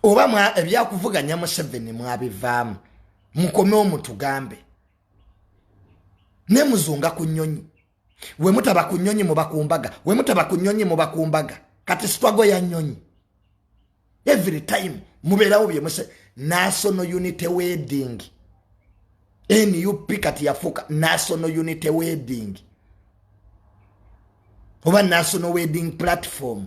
oba ebyakuvuganya museveni mwabivaamu mukome omutugambe nemuzunga ku nyonyi wemutaba ku nyonyi mubakumbaga wemutaba ku nyonyi mubakumbaga kati sitwago ya nyonyi every time mubeerawo byemuse national unity wedding nup kati yafuuka national unity wedding oba national wedding platform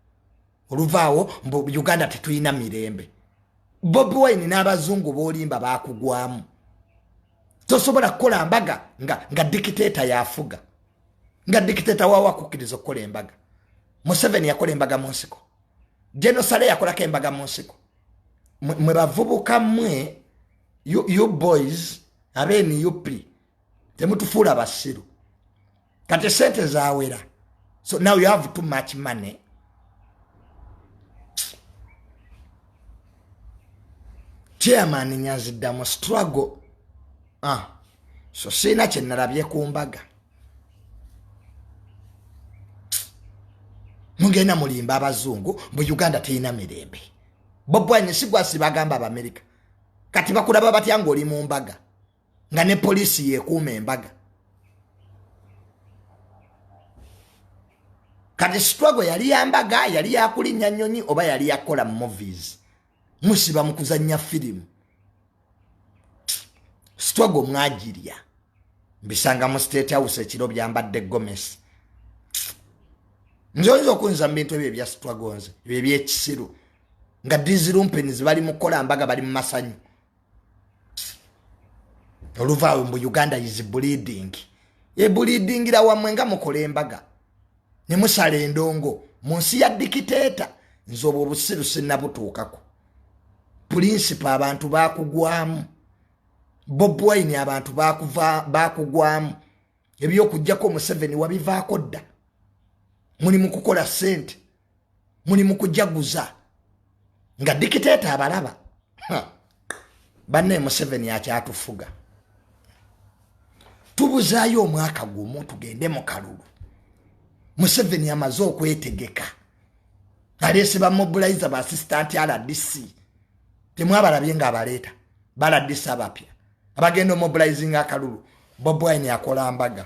oluvaawo mbu uganda tetulina mirembe bobi wine n'abazungu bolimba bakugwamu tosobola kukola mbaga nga, nga dikiteeta yafuga nga dikiteeta wawo akukkiriza okukola embaga museveni yakola embaga mu nsiko genosale yakolako embaga mu nsiko mwe bavubuka mwe you, you boys abenup temutufuula basiru kati sente zawera so now you have too much money chairman nyanzidda mu struggle ah. so siina kyenalabye ku mbaga mugenda mulimba abazungu mu uganda terina mirembe bobwanye sigwasi bagamba abamerika kati bakulaba batya ngaoli mu mbaga nga ne poliisi yekuuma embaga kati sitwago yali yambaga yali yakulinnya nnyonyi oba yali yakukola mu movies musiba mu kuzannya firimu sitwago mwagirya mbisanga mu state house ekiro byambadde gomesi nze oyinza okuyinza mu bintu ebyo ebya sitwago nze ebyo ebyekisiru nga dizirumpeni zibali mukukola mbaga bali mu masanyu oluvaawo mbu uganda is bleeding ebuliidingira wamwe nga mukola embaga ne musala endongo mu nsi ya dikiteeta nze obwo obusiru sinnabutuukako pulinsipo abantu bakugwamu bobwine abantu bakugwamu ebyokujjako museveni wabivaako dda muli mukukola sente muli mukujaguza nga dikiteeta abalaba banne museveni akyatufuga tubuzaayo omwaka gumu tugende mu kalulu museveni amaze okwetegeka aleese bamobilize ba assistant rdc temwabalabye nga abaleeta ba rdc abapya abagenda omobilizing akalulu bobwine akola mbaga